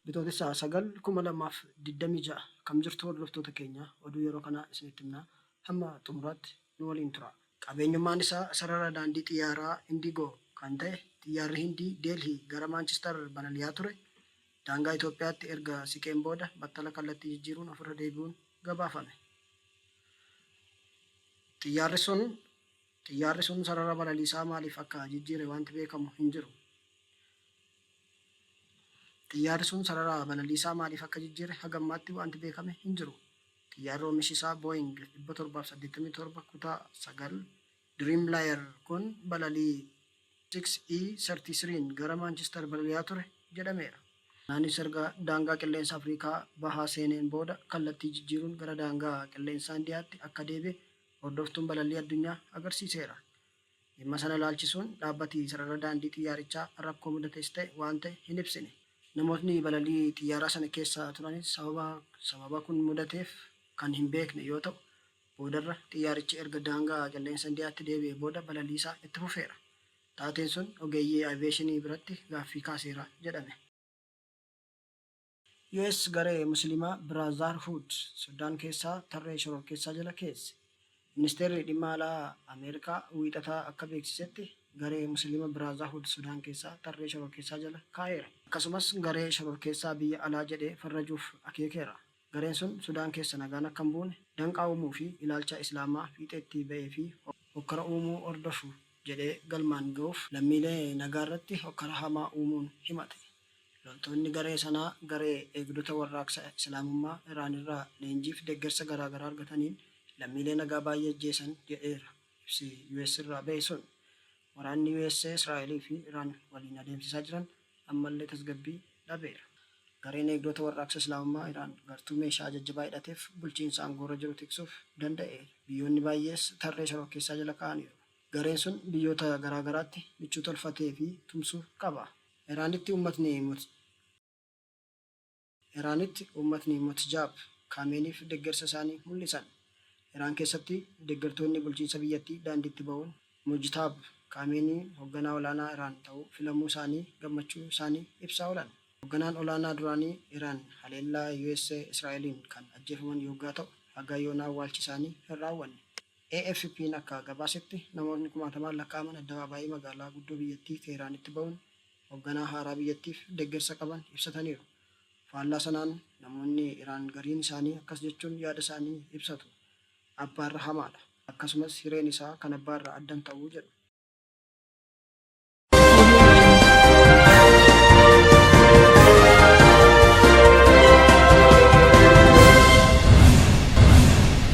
Bitootessa 9/2026 Akkam jirtu hordoftoota keenya oduu yeroo kanaa isinitti himna hamma xumuraatti nu waliin turaa. Qabeenyummaan isaa sarara daandii xiyyaaraa Indigo kan ta'e xiyyaarri Hindii Delhi gara Manchester balali'aa ture Daangaa Itoophiyaatti erga siqeen booda battala kallattii jijjiiruun ofirra deebi'uun gabaafame. Xiyyaarri sun Xiyyaarri sun sarara balaliisaa maaliif akka jijjiire wanti beekamu hin jiru. Xiyyaarri sun sarara balaliisaa maaliif akka jijjiire haga ammaatti wanti beekame hin jiru. Xiyyaarri oomishi isaa Boeing 787 kutaa 9 Dreamliner kun balalii XE-33n gara Maanchistar balali'aa ture jedhameera. Innis erga daangaa qilleensa Afrikaa Bahaa seeneen booda kallattii jijjiiruun gara daangaa qilleensaa Indiyaatti akka deebi'e hordoftuun balallii addunyaa agarsiiseera. Dhimma sana ilaalchisuun dhaabbati sarara daandii xiyyaarichaa rakkoo mudates ta'e waan ta'e hin ibsine. Namootni balalii xiyyaaraa sana keessa turanis sababa sababa kun mudateef kan hin beekne yoo ta'u, Boodarra xiyyaarichi erga daangaa qilleensa Indiyaatti deebi'ee booda balaliisaa itti fufeera. Taateen sun ogeeyyii aviyeeshinii biratti gaaffii kaaseera jedhame. US garee Musiliimaa Biraazaarhuud Sudaan keessaa tarree shororkeessaa jala keesse. Ministeerri Dhimma Alaa Ameerikaa Wiixata akka beeksisetti garee Musiliima Biraazahuud Sudaan keessaa tarree shororkeessaa jala kaa'eera. Akkasumas garee shororkeessaa biyya alaa jedhee farrajuuf akeekeera. Gareen sun Sudaan keessa nagaan akka hin buune danqaa uumuu fi ilaalcha Islaamaa fiixee itti ba'ee fi hokkara uumuu hordofu jedhee galmaan ga'uuf lammiilee nagaa irratti hokkara hamaa uumuun himate. Loltoonni garee sanaa garee Eegdota Warraaqsa Islaamummaa Iraan irraa leenjii fi deggersa garaagaraa argataniin lammiilee nagaa baay'ee ajjeesan jedheera ibsi US irraa ba'e sun. Waraanni US, Israa'el fi Iraan waliin adeemsisaa jiran ammallee tasgabbii dhabeera. Gareen Eegdota Warraaqsa Islaamummaa Iraan gartuu meeshaa jajjabaa hidhateef bulchiinsa aangoorra jiru tiksuuf danda'eera. Biyyoonni baay'ees tarree shororkeessaa jala ka'aniiru. Gareen sun biyyoota garaa garaatti michuu tolfatee fi tumsu qaba. Iraanitti uummatni mooticha. Iraanitti uummatni Motjaab Kaameeniif deggersa isaanii mul'isan. Iraan keessatti deggertoonni bulchiinsa biyyattii daandiitti ba'uun Mojtaab Kaameenii hogganaa olaanaa Iraan ta'uu filamuu isaanii gammachuu isaanii ibsaa oolan. Hogganaan olaanaa duraanii Iraan haleellaa US Israa'eliin kan ajjeefaman yoggaa ta'u, haga yoonaa awwaalchi isaanii hin raawwanne. AFP'n akka gabaasetti namootni kumaatamaan lakkaa'aman addabaabaayii magaalaa guddoo biyyattii Teehraanitti ba'uun hogganaa haaraa biyyattiif deggersa qaban ibsataniiru. Faallaa sanaan namoonni Iraan gariin isaanii akkas jechuun yaada isaanii ibsatu, Abbaarra hamaadha. Akkasumas hireen isaa kan abbaa irraa adda hin ta'u jedhu.